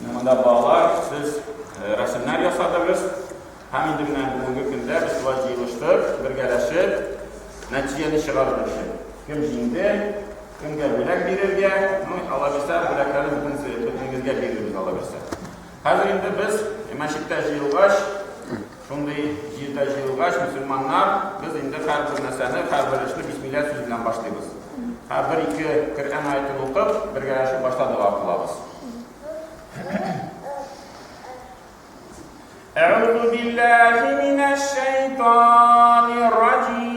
Менә монда балалар, сез рәсемнәр ясадыгыз. Һәм инде менә бүгенге көндә без шулай җыелыштык, бергәләшеп нәтиҗәне чыгарыр өчен. Кем җиңде, кемгә бүләк бирергә, ну, алабирсә, бүләкләрне бөтенегезгә бирербез алабирсә. Хәзер инде без мәчеттә җыелгач, Шундый җирдә җыелгач, мөселманнар, без инде һәрбер нәрсәне, һәрбер эшне бисмилла сүзе белән башлыйбыз. Һәрбер ике Коръән аятен укып, бергәләшеп башта дога кылабыз. Әгъузу биллаһи минәш шәйтанир раҗим.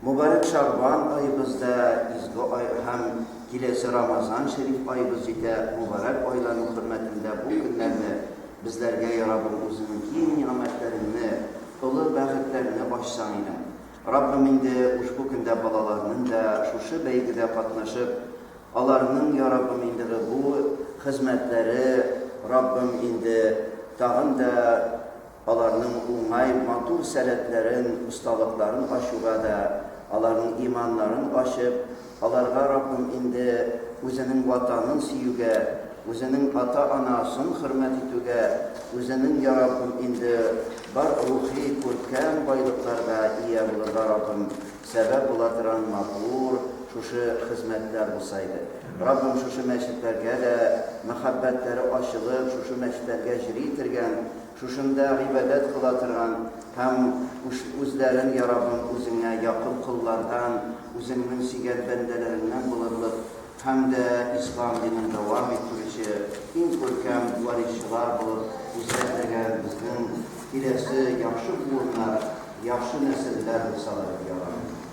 Мөбарәк Шәгъбан аебыз да изге ай һәм киләсе Рамазан шәриф аебыз җитә, мөбарәк айлану хөрмәтендә бу көннәрне безләргә ярабым үзеңнең киң нигъмәтләреңне, олы бәхетләрне ачсаң иде. Раббым инде ушбу көндә балаларның да шушы бәйгедә катнашып, аларның яраббым индыгы бу хезмәтләре Раббым инде тагын да Аларның уңай, матур сәләтләрен, осталыкларын ачуга да, аларның иманнарын ачып, аларга Раббым инде Үзенең Ватанын сөюгә, Үзенең ата-ана сын хөрмәт итүгә, Үзенең, йа Раббым, инде бар рухи, күркәм байлыкларга ия булырга, Раббым, сәбәп була торан матур шушы хезмәтләр булса иде. Раббым, шушы мәчетләргә дә мәхәббәтләре ачылып, шушы мәчетләргә җри тергән, Шушында гыйбадәт кыла торган һәм үзләрен йа Раббым үзеңә якын коллардан, үзеңнең сөйгән бәндәләреңнән булырлык һәм дә ислам динен дәвам иттерүче иң күркәм варисчылар булып үзгәртергән безнең киләсе яхшы буыннар, яхшы нәселләр булсалар иде, йа Раббым.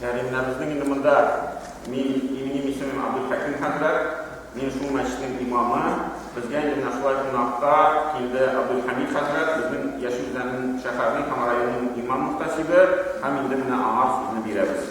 Мәргәннәбезнең инде монда мин имени мисемем Абдулхаким хәзрәт, мин шул мәчетнең имамы. Безгә инде менә шулай кунакка килде Абдулхамид хәзрәт, безнең Яшел Үзәннең шәһәрнең һәм районның имам мөхтәсибе, һәм инде менә аңа сүзне бирәбез.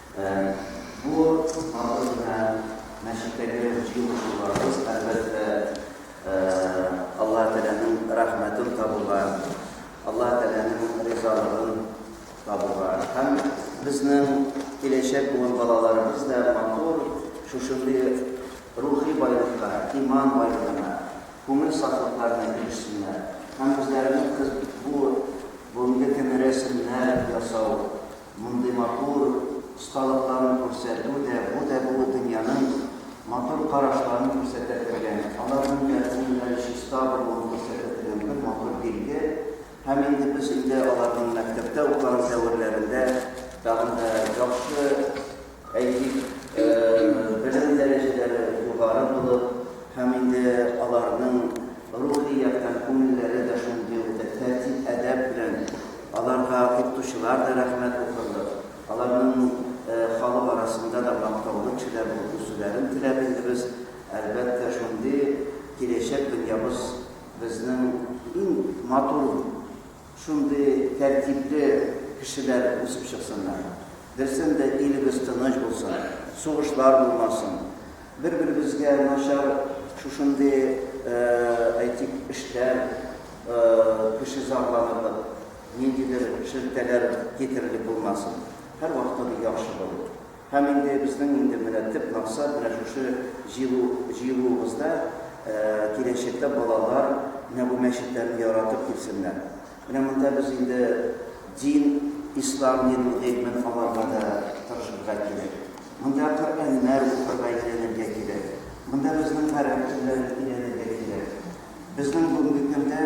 Бу матур гына мәчеттәге җыелышуларыбыз, әлбәттә, Аллаһ Тәгаләнең рәхмәтен табуга, Аллаһ Тәгаләнең ризалыгын табуга һәм безнең киләчәк буын балаларыбыз да матур шушындый рухи байлыкка, иман байлыгына, күңел сафлыкларына ирешсеннәр һәм үзләренең кыз бу бүгенге көн рәсемнәр ясау, Мондый матур осталыкларын күрсәтү дә, бу да бу дөньяның матур карашларын күрсәтә торган, аларның да күңелләре чиста булуын күрсәтә торган бер матур билге. Һәм инде без өйдә аларның мәктәптә укыган дәверләрендә тагын да яхшы, Әйтик, белем дәрәҗәләре югары булып һәм инде аларның рухи яктан күңелләре дә шундый ук тәртип-әдәп белән, аларга укытучылар да рәхмәт укырлык, аларның халык арасында да мактаулы кешеләр булып үсүләрен теләп инде без, әлбәттә, шундый киләчәк дөньябыз безнең иң матур, Шундый тәртипле кешеләр үсеп чыксыннар. Берсен дә илебез тыныч булсын, сугышлар булмасын. Бер-беребезгә начар шушындый, әйтик, эшләр, кеше зарланырлык, ниндидер шелтәләр китерерлек булмасын. Һәрвакытта бу яхшы булыр. Һәм инде безнең инде менә төп максат, менә шушы җыелу, җыелуыбызда киләчәктә балалар менә бу мәчетләрне яратып килсеннәр. Менә монда без инде дин, ислам динен, гыйльмен алырга да тырышырга кирәк. Монда Коръәннәр укырга, өйрәнергә кирәк. Монда безнең гарәп телләрен өйрәнергә кирәк. Безнең бүгенге көндә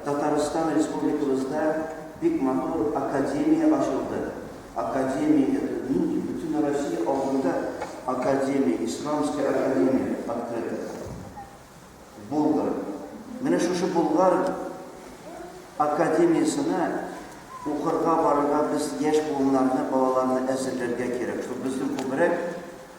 Татарстан Республикабызда бик матур академия ачылды. Академия это люди, бөтен Россия алдында академия, исламская академия открыта. Болгар. Менә шушы болгар академиясенә укырга барырга без яшь буыннарны, балаларны әзерләргә кирәк. Шул безнең күбрәк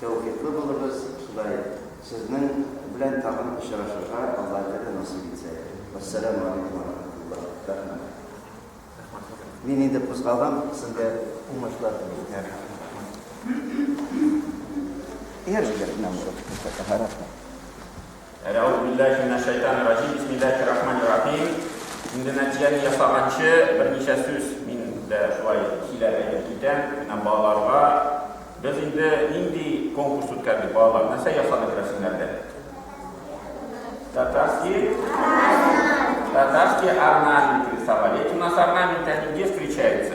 Тәүфиклы булыгыз, Ходай сезнең белән тагын очрашырга Алла җәне насыйп итсә. Вәссәламү алейкүм вә рахмәтуллаһ. Рәхмәт. Мин инде кузгалам, сезгә уңышлар телим. Рәхмәт. Ир егетне аңлатып күрсәтә, рәхмәт. Әәәүзүбилләһи минәшшәйтанирраҗим, бисмилләһиррахманиррахим. Инде нәтиҗәне ясаганчы, берничә сүз мин дә шулай сөйләп әйтеп китәм. Менә балаларга без инде нинди конкурс үткәрдек, балалар, нәрсә ясадык рәсемнәрдә? Татарский Татарский орнамент рисовали. Эти у нас орнаменты, они где встречаются?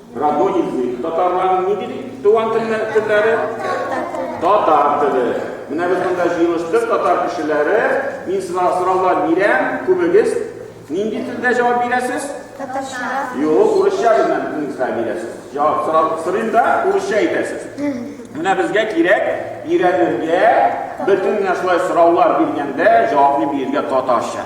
Радон излик. Татарларның ни дип туган телләре? Татар теле. Татар теле. Менә без монда җыелыштык, татар кешеләре. Мин сиңа сораулар бирәм, күбегез нинди телдә җавап бирәсез? Татарча. Юк, урысча белән телегезгә бирәсез. Җавап сорап сорыйм да, урысча әйтәсез. Менә безгә кирәк өйрәнергә, бөтен менә шулай сораулар биргәндә җавапны бирергә татарча.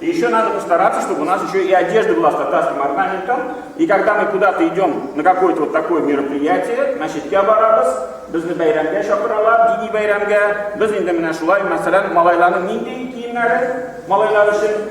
И еще надо постараться, чтобы у нас еще и одежда была с татарским орнаментом. И когда мы куда-то идем на какое-то вот такое мероприятие, значит, я барабас, безне бәйрәмгә чакыралар, дини бәйрәмгә. Без инде менә шулай, мәсәлән, малайларның нинди киемнәре малайлар өчен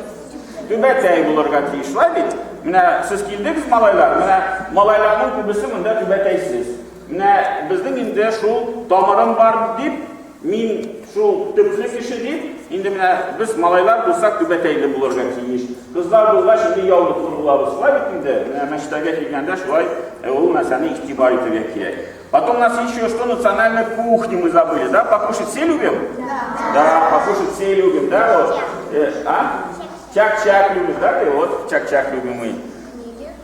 түбәтәй булырга тиеш, шулай бит? Менә сез килдегез малайлар, менә малайларның күбесе монда түбәтәйсез. Менә безнең инде шул тамырым бар дип Мин шул төпле кеше дип, инде менә без малайлар булсак түбәтәйле булырга тиеш. Кызлар булгач инде яулыклы булабыз. Шулай бит инде, менә мәчтәгә килгәндә шулай э, ул нәрсәне игътибар итәргә кирәк. Потом нас еще что национальной кухни мы забыли, да? Покушать все любим? Да, покушать все любим, да? Вот. Э, а? Чак-чак любишь, да ты? Вот чак-чак любимый.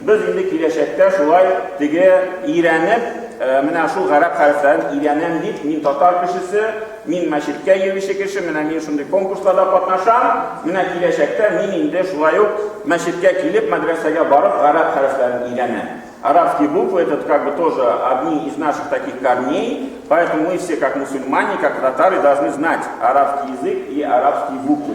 Без инде киләчәктә шулай теге өйрәнеп, менә шул гарәп хәрефләрен өйрәнәм дип, мин татар кешесе, мин мәчеткә йөрүче кеше, менә мин шундый конкурсларда катнашам, менә киләчәктә мин инде шулай ук мәчеткә килеп, мәдрәсәгә барып гарәп хәрефләрен өйрәнәм. Арабские буквы это как бы тоже одни из наших таких корней, поэтому мы все как мусульмане, как татары должны знать арабский язык и арабские буквы.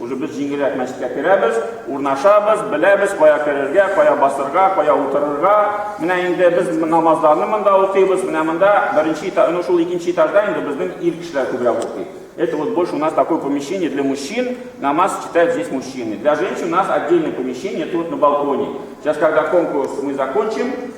Уже без җиңелрәк мәчеткә керәбез, урнашабыз, беләбез, кая керергә, кая басырга, кая утырырга. Менә инде без намазларны монда укыйбыз, менә монда беренче этаж, ну шул икенче этажда инде безнең ир кешеләр күбрәк укый. Это вот больше у нас такое помещение для мужчин, намаз читают здесь мужчины. Для женщин у нас отдельное помещение, это вот на балконе. Сейчас, когда конкурс мы закончим,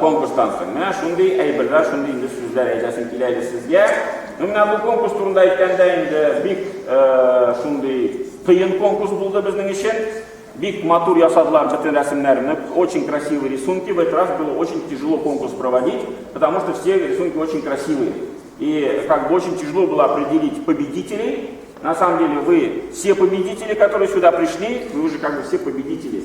Конкурстан соң, менә шундый әйберләр, шундый инде сүзләр әйтәсем килә иде сезгә. Ну, менә бу конкурс турында әйткәндә инде бик шундый кыен конкурс булды безнең өчен. Бик матур ясадылар бөтен рәсемнәрне, очень красивые рисунки. В этот раз было очень тяжело конкурс проводить, потому что все рисунки очень красивые. И как бы очень тяжело было определить победителей. На самом деле вы все победители, которые сюда пришли, вы уже как бы все победители.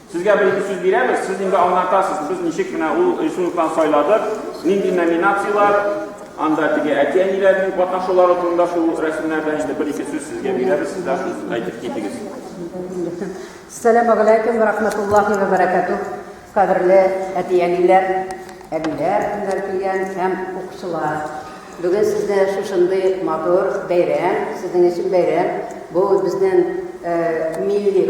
Сезгә бер-ике сүз бирәбез, сез инде аңлатасыз, без ничек менә ул рисункларны сайладык, нинди номинацияләр, анда теге әти-әниләрнең катнашулары турында шул рәсемнәрдә инде бер-ике сүз сезгә бирәбез, сез дә шуны әйтеп китегез. Сәлам алейкум, рахматуллахи ва баракатух. Кадерле әти-әниләр, әбиләр, кемнәр килгән һәм укучылар. Бүген сездә шушындый матур бәйрәм, сезнең өчен бәйрәм. Бу безнең э, милли